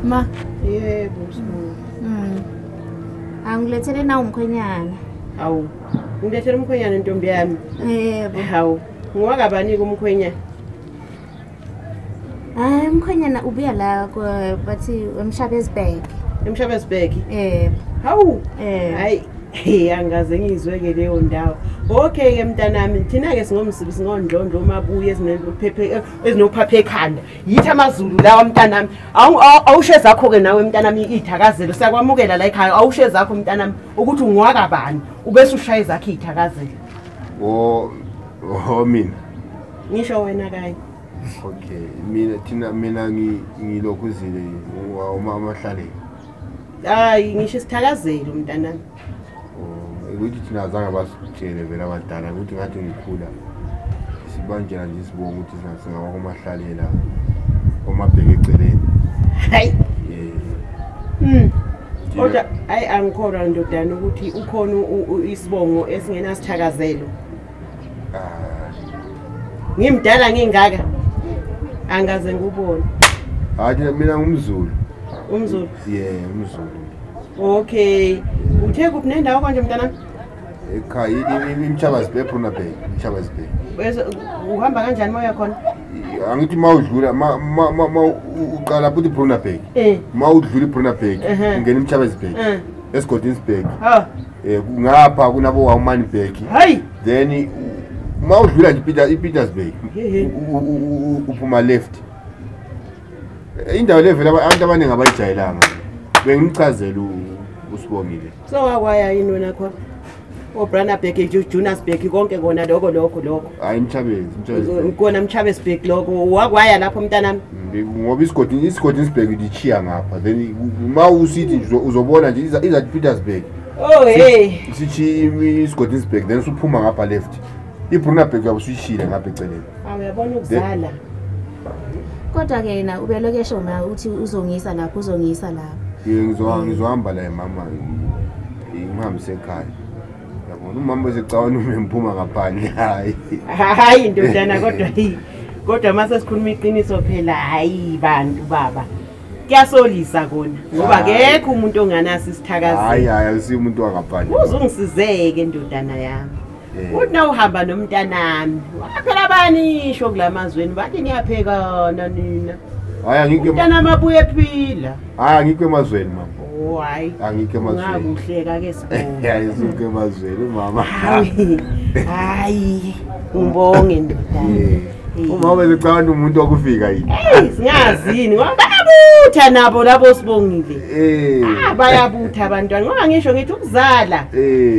Ma. Yebo msibonga. Mm. Angilethele nawo umkhwenyana. Awu. Ngilethele umkhwenyana ntombi yami. Yebo. Hawu. Ngowakabani kumkhwenyana? Hayi umkhwenyana ubuya la bathi emshabezibheke. Emshabezibheke? Yebo. Hawu. Eh. Hayi. Hey angaze ngizwe ke leyo ndawo. Okay ke mntanami thina ke singomsibi singondlondlo uma buye ezinophephe ezinophaphe ekhanda. yithi amazulu lawa mntanami awusho ezakho-ke nawe mntanami iy'thakazelo siyakwamukela la ekhaya awusho ezakho mntanami ukuthi ungwaka bani ubese ushaya ezakho iy'thakazelo o o mina ngisho wena kanye okay mina thina mina ngilokhu zile umama hlaleni hayi ngisho isithakazelo mntanami ukuthi thina azange basitshele vele abadala ukuthi ngathi ngikhula sibanjela nje sibonga ukuthi singaba komahlalela omabheke eceleni hayi hmm. kodwa hayi angikholwa ndodana ukuthi ukhona isibongo esingenasithakazelo ngimdala ngingaka angaze ngubone hayi mina ngumzulu umzulu ye umzulu okay uthe kuphi nendawo konje mntana ekhaya imthabazi bay ephuna bay imthabazi bay uhamba kanjani moya khona angithi ma udlula ma uqala futhi ibrunabek eh. ma udlula ibrunabek ungena imthabazi bay eh. esigodini sibheki ha eh kungapha kunabo wawumani bheki hayi then uma udlula nje Peter iPetersburg uphuma left indawo levela abantu abaningi abayijayelanga bengichazela usibongile so wakwaya yini wena khona obranabheki junasbheki konke kona lokho lokho lokho hayi imhlabezi kona mhlabesbheki lokho wakwaya lapho umntanami ngoba isigodi isigodi isibheki lichiya ngapha then uma usithi nje uzobona nje izathi petersburg oh hey sithi isigodi isibheki then usuphuma ngapha left ibrunabheki yabe usuyishile ngapha eceleni awuyabona ukuzala kodwa-ke yena ubeloke esho ma uthi uzongisa lapho uzongisa lapho ngizohamba la emama ngihambise ekhaya yabona umama uzicawana ume ngiphuma ngaphandle hayi hayi ndodana kodwa yi kodwa uma sesikhuluma iqiniso phela hayi bantu baba kuyasolisa kona ngoba kekho umuntu onganaso isithakazelo hayi hayi awusiyo umuntu wangaphandle uzungisizeke ndodana yami Eh. uthi na uhamba nomntanami waphela bani isho kula mazweni bathi niyaphekana nina hayi angikho ema- umntanami abuye ephila hayi angikho emazweni mama Oh, hayi angikho emazweni ungakuhleka ke sibonga hayi sukho emazweni umama hayi hayi ngibonge ndodana Eh. Eh. umama becabanga umuntu wakufika yini Hey, singazini ngoba bayabutha nabo labo sibongile Eh. Ah, bayabutha abantwana ngoba ngisho ngithi ukuzala Eh.